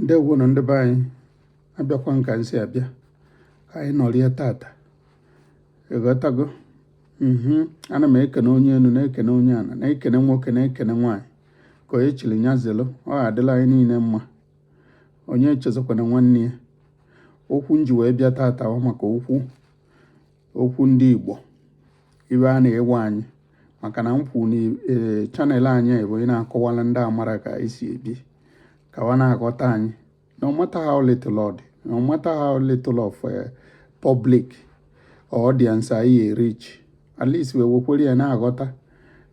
ndewo nụ ndị be anyị abịakwa m ka m si abịa ka anyị nọrịa tata ịghọtago mhm. ana m ekene onye enu na-ekene onye ana na-ekene nwoke na-ekene nwaanyị ka onye chili nya zelu ọ adịla anyị niine mma onye echezọkwana nwanne ya okwu m ji wee bịa tata ọ maka okwu okwu ndị Igbo ibe a na-ewe anyị maka na m kwuru na e, channel anyị bụ ị na-akọwala ndị amara ka anyị si ebi ka wa na-aghọta anyị no matter how little ọ dị no matter how little of eh, public or audience anyị reach at least wee wekwere ya na-aghọta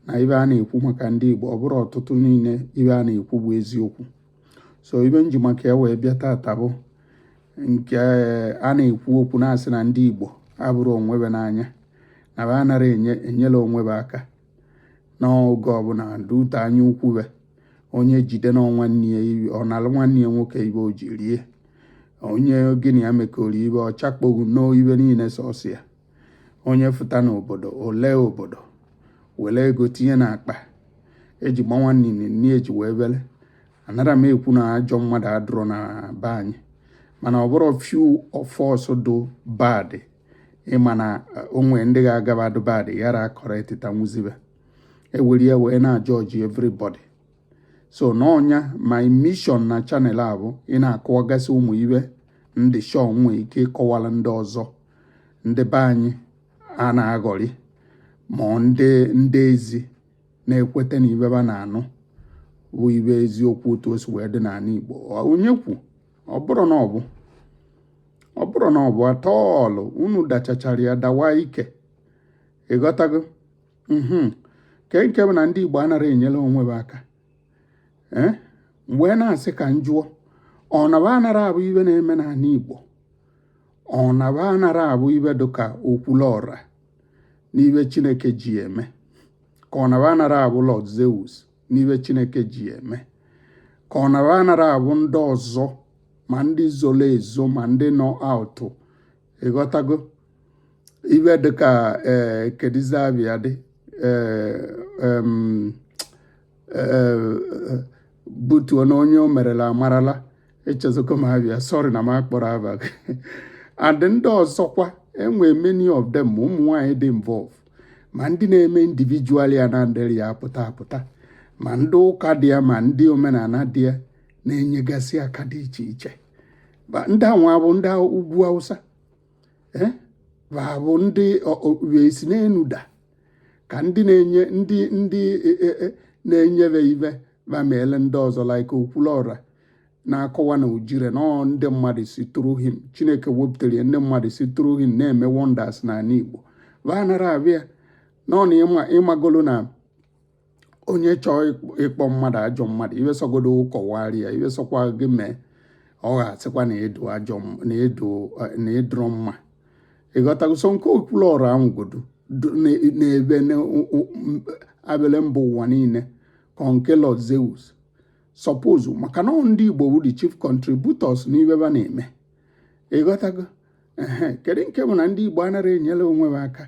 na ibe a na-ekwu maka ndị Igbo ọ bụrọ ọtụtụ niile ibe a na-ekwu bụ eziokwu so ibe m ji maka ya wee bịa tata bụ nke a na-ekwu okwu na-asị na ndị Igbo abụrọ onwe ba n'anya na ba anara enyela onwe ba aka n'oge ọbụna dute anya ukwu ba onye jide na nwanne ya ọ nalụ nwanne ya nwoke ibe o ji rie onye gị na ya mekọrọ ibe ọ chakpoghu n'ibe niine sọsọ ya onye fụta n'obodo o lee obodo were ego tinye n'akpa eji gbanwa nini nni eji wee bere anara m ekwu na ajọ mmadụ adụrọ na be anyị mana ọ bụrụ few of us do bad ị ma na eh, o nwee ndị ga-agaba do bad yara akọrọ etita nwuzibe e were ya wee na-ajudge everybody so n'ọnya my mission na channel a bụ ị na-akọwagasị ụmụ ibe ndị shọ nwee ike ịkọwala ndị ọzọ ndị be anyị a na-aghọrị ma ndị ezi na-ekweta na ibe ba na-anụ bụ ibe eziokwu otu o si wee dị n'anị Igbo onye kwuo ọ bụrụ na ọ bụ ọ bụrụ na ọ bụ a tọọlụ unu dachachara ya dawa ike ịghọtago mhm. nke nke bụ na ndị Igbo anara enyela onwe ba aka eh? m wee na-asị ka m jụọ ọ na ba anara abụ ibe na-eme n'anị Igbo ọ na ba anara abụ ibe dịka Okwulọra n'ibe Chineke ji eme ka ọ na ba anara abụ Lord Zeus n'ibe Chineke ji eme ka ọ na ba anara abụ ndị ọzọ ma ndị zolo ezo ma ndị nọ out ịghọtago ibe dịka ee eh, kedịzị aba ya dị ee eh, eh, butuo na onye o merela amarala echezọgo m aba ya sorry na m akpọrọ aba gị and ndị ọzọkwa e nwee many of them ma ụmụ nwaanyị dị involve ma ndị na-eme individual ya na ndị ya apụta apụta ma ndị ụka dị ya ma ndị omenana dị ya na-enyegasị aka dị iche iche ndị anwa bụ ndị ugwu awụsa eh? bụ ndị esi n'enu da ka ndị na-enye ndị ndị e, e, e, na-enyebe ibe ba meele ndị ọzọ like okwulọra na-akọwa na ujire na ndị mmadụ si through him chineke wepụtara ya ndị mmadụ si through him na-eme wonders n'anị igbo ba anara abịa na ịmagolo na onye chọọ ịkpọ mmadụ ajọ mmadụ ibe sọgodo kọwaara ya ibe sọkwa gị mee ọ ga-asịkwa na ịdụ ajọ na ịdụ na ịdụrọ mma ịghọtago so nke okwulọra ahụgodo n'ebe abịala mba ụwa niile ka nke lord zeus suppose maka na ndị igbo wụ the chief contributors n'ibe ba na-eme ịghọtago ee kedu nke bụ na ndị Igbo anara enyere onwe be aka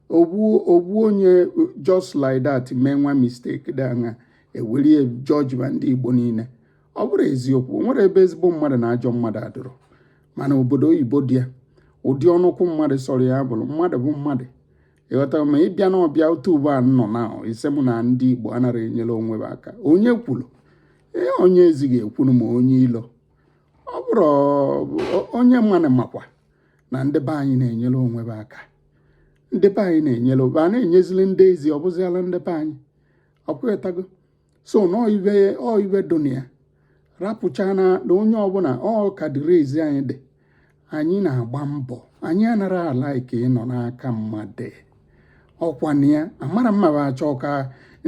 ovu onye just like that mee nwa mistake dị anya ewerie judge ma ndị Igbo niile ọ bụrụ eziokwu o nwere ebe ezigbo mmadụ na ajọ mmadụ adụrọ mana obodo oyibo dị ya ụdị ọnụkwụ mmadụ sọrọ ya bụrụ mmadụ bụ mmadụ ịghọta ma ịbịa na ọbịa otu ugbo a nọ na ị sị mụ na ndị Igbo anara enyere onwe be aka onye kwuru ee onye ezi ekwuru ma onye ilo ọ bụrụ onye ma anyị makwa na ndị be anyị na-enyere onwe be aka ndị be anyị na-enyere ba na-enyezili ndị ezi ọ bụziala ndị be anyị ọkwetago so na ọ ibe dụ na ya rapụcha na onye ọbụla ọ ka dịrị ezi anyị dị anyị na-agba mbọ anyị anara ala ike ịnọ n'aka mmadụ ọkwa na ya amara mma bụ achọ ka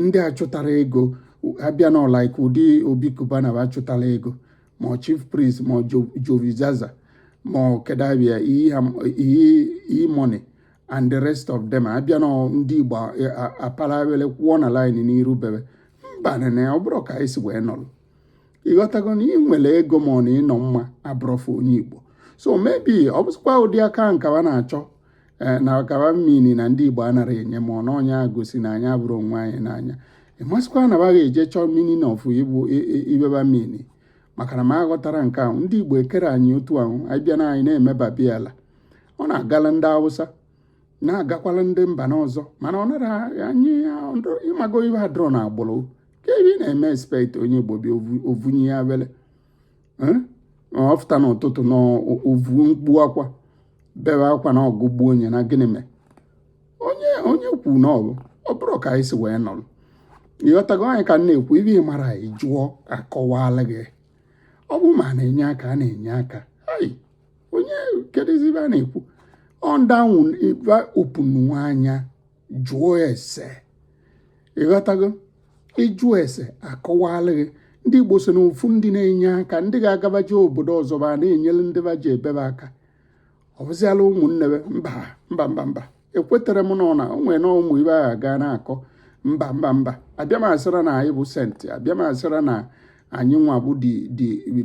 ndị achụtara ego abịa nọ like ụdị obi cubana bụ achụtara ego ma ọ chief priest ma ọ jowizaza ma ọ kedụ aba ya e-money and the rest of them abịa na ndị igbo apala abele kwụọ na line n'iru be be mba nene ọ bụrọ ka anyị si wee nọrọ ịghọtago na ị nwere ego ma ọ na ịnọ mma abụrọfụ onye igbo so maybe ọ bụzikwa ụdị aka nke ba na-achọ eh, na ọka ba mean na ndị igbo anara enye ma ọ na onye agosi na anyị abụrọ onwe anyị n'anya ịmasịkwa na ba ga-eje chọọ meaning of ibe ba mean maka na m aghọtara nke ahụ ndị igbo ekere anyị otu ahụ anyị bịa na anyị na-eme babiala ọ na-agala ndị awụsa na-agakwala ndị mba n'ọzọ mana ọ nara anyị ịmago ibe adụrọ na agbụrụ ka ebe ị na-eme expect onye Igbo bịa ọ vunye ya abele ọ fụta n'ụtụtụ na ovu mkpu akwa bebe akwa na agụụ gbuo onye na gịnị mee onye onye kwu na ọbụ ọ bụrọ ka anyị si wee nọrọ ịghọtago anyị ka m na-ekwu ibe ị marọ ị jụọ akọwala gị ọ bụ ma na-enye aka a na-enye aka onye kedụzi ibe a na-ekwu ọndanwụ ibe opunu anya jụọ ese ịghọtago ị jụ ese a kọwaala gị ndị Igbo so n'ofu ndị na-enye aka ndị ga-aga ba jee obodo ọzọ ba na-enyere ndị ba jee be ba aka ọ bụziala ụmụnne ba mba mba mba mba ekwetere m na ọ na o nwe na ụmụ ibe agha gaa na-akọ mba mba mba abịa m asịra na anyị bụ saint abịa m asịra na anyị nwa bụ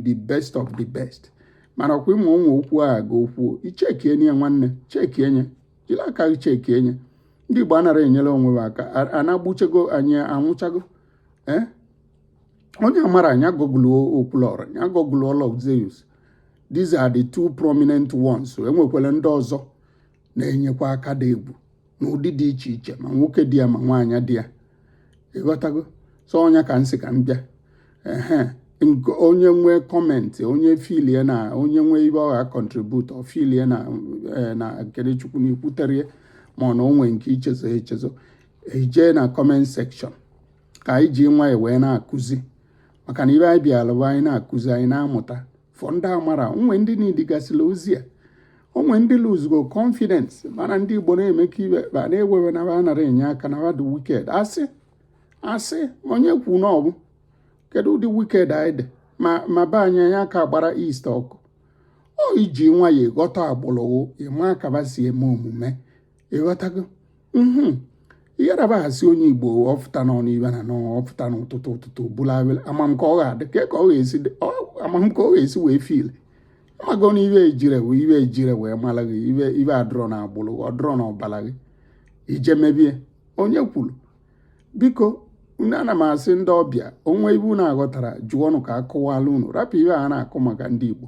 the best of the best mana ọ kwa ị ma ụmụ okwu agha ga okwu i chekie nye nwanne chekie nye jiri aka gị chekie nye ndị Igbo anara enyere onwe ha aka anagbuchego anyị anwụchago ee eh? onye amara nya google Okwuluọra nya google Lord Zeus these are the two prominent ones e nwekwala ndị ọzọ na-enyekwa aka dị egwu n'ụdị dị iche iche ma nwoke dị ya ma nwaanyị dị ya ịghọtago so ọ nya ka m sị ka m bịa ehe onye nwee comment onye filie na o nwee ibe ọ ga-contribute ọ filie na eh, na Kenechukwu na ikwuterie ma ọ na o nwe nke i chezo echezo e jee na comment section ka anyị ji nwayọ wee na-akụzi maka na ibe anyị bịara bụ anyị na-akụzi anyị na-amụta for ndị amara o nwe ndị nidigasịla ozi a o nwe ndị luzugo confidence mana ndị Igbo na-eme ka ibe ba na-ewe iwe na ba anara enye aka na ba dị wicked asị asị onye kwu na ọ bụ kedu ụdị wicked anyị dị ma ma be anyị anya aka gbara east ọkụ ọ iji nwayọ ịghọta agbụrụ ị ma aka ba si eme omume ịghọtago mhm. ihera ba asị onye Igbo ọ fụta nọ n'ibe na nọ ọ fụta n'ụtụtụ ụtụtụ bụla awele ama m ka ọ ga-adị ka ka ọ ga-esi ama m ka ọ ga-esi wee feel amago na ibe ejire wee ibe ejire wee mara gị ibe ibe adịrọ na agbụrụ ọ dịrọ na ọbara gị ije mebie onye kwuru biko unu ana m asị ndị ọbịa o nwe ibe unu aghọtara jụọnụ ka a kọwaala unu rapụ ibe a na-akọ maka ndị Igbo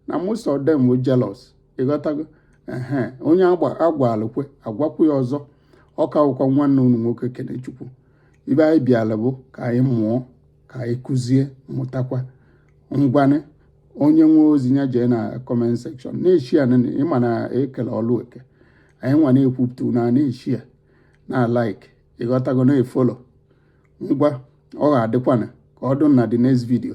na most of them were jealous ịghọtago ehe onye a gwalụ kwe a gwakwu ya ọzọ ọ ka wụkwa nwanne unu nwoke Kenechukwu ibe anyị bịala bụ ka anyị mụọ ka anyị kụzie mụtakwa ngwanị onye nwe ozi ya jee na comment section na-eshea ya ị ma na e kele ọlụ eke anyị nwa na-ekwupụta na na-eshea ya na like ịghọtago na-efollow ngwa ọ ga-adịkwana ka ọ dụ na the next video